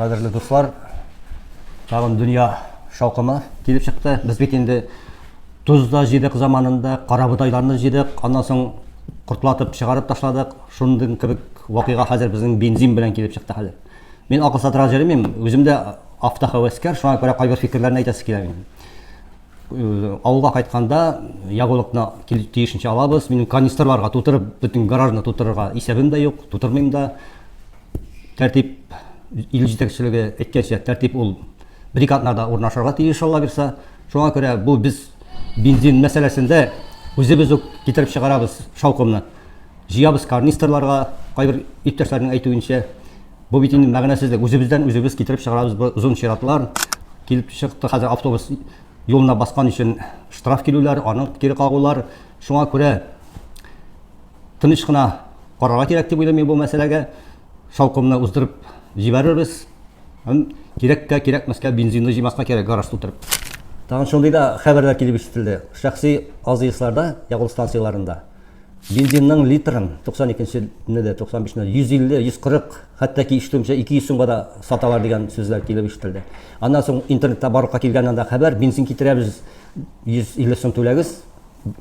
Кадерле дуслар, тагын дөнья шаукымы килеп чыкты. Без бит инде тузда җыйдык заманында, карабудайларны җыйдык, аннан соң кортлатып чыгарып ташладык. Шундый кебек вакыйга хәзер безнең бензин белән килеп чыкты хәзер. Мин акыл сатырга җыримыйм, үзем дә автохәвәскәр, шуңа күрә кайбер фикерләрне әйтәсе килә минем. Авылга кайтканда ягулыкны тиешенчә алабыз. Минем канистрларга тутырып, бөтен гаражны тутырырга исәбем дә юк, тутырмыйм да. Тәртип ил җитәкчелеге әйткәнчә, тәртип ул брикадларда урнашырга тиеш алла бирса. Шуңа күрә бу без бензин мәсьәләсендә үзебез үк китереп чыгарабыз шаукымны. Җыябыз карнистрларга, кайбер иптәшләрнең әйтүенчә. Бу бит инде мәгънәсезлек. Үзебездән үзебез китереп чыгарабыз бу озын чиратлар. Килеп чыкты хәзер автобус юлына баскан өчен штраф килүләр, аны кире кагулар. Шуңа күрә тыныч кына карарга кирәк дип уйлыйм мин бу мәсьәләгә. Шаукымны уздырып җибәрербез. Һәм кирәккә, кирәкмәскә бензинны җыймаска кирәк гараж тутырып. Тагын шундый да хәбәрләр килеп ишетелде. Шәхси АЗСларда, ягулык станцияләрендә, Бензинның литрын 92 нче дә, 95 нче дә 150, 140, хәтта ки ишетүемчә 200 сумга да саталар дигән сүзләр килеп ишетелде. Аннан соң интернетта барлыкка килгән анда хәбәр, бензин китерәбез, 150 сум түләгез,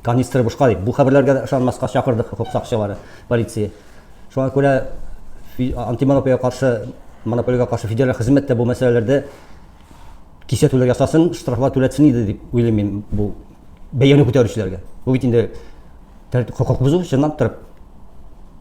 канистр бушка дип. Бу хәбәрләргә ышанмаска чакырдык хокук сакчылары, полиция. Шуңа күрә антимонополиягә каршы, монополиягә каршы федераль хезмәт тә бу мәсьәләләрдә кисәтүләр ясасын, штрафлар түләтсен иде дип уйлыйм мин бу бәяне күтәрүчеләргә. Бу бит инде хокук бозу чынлап торып.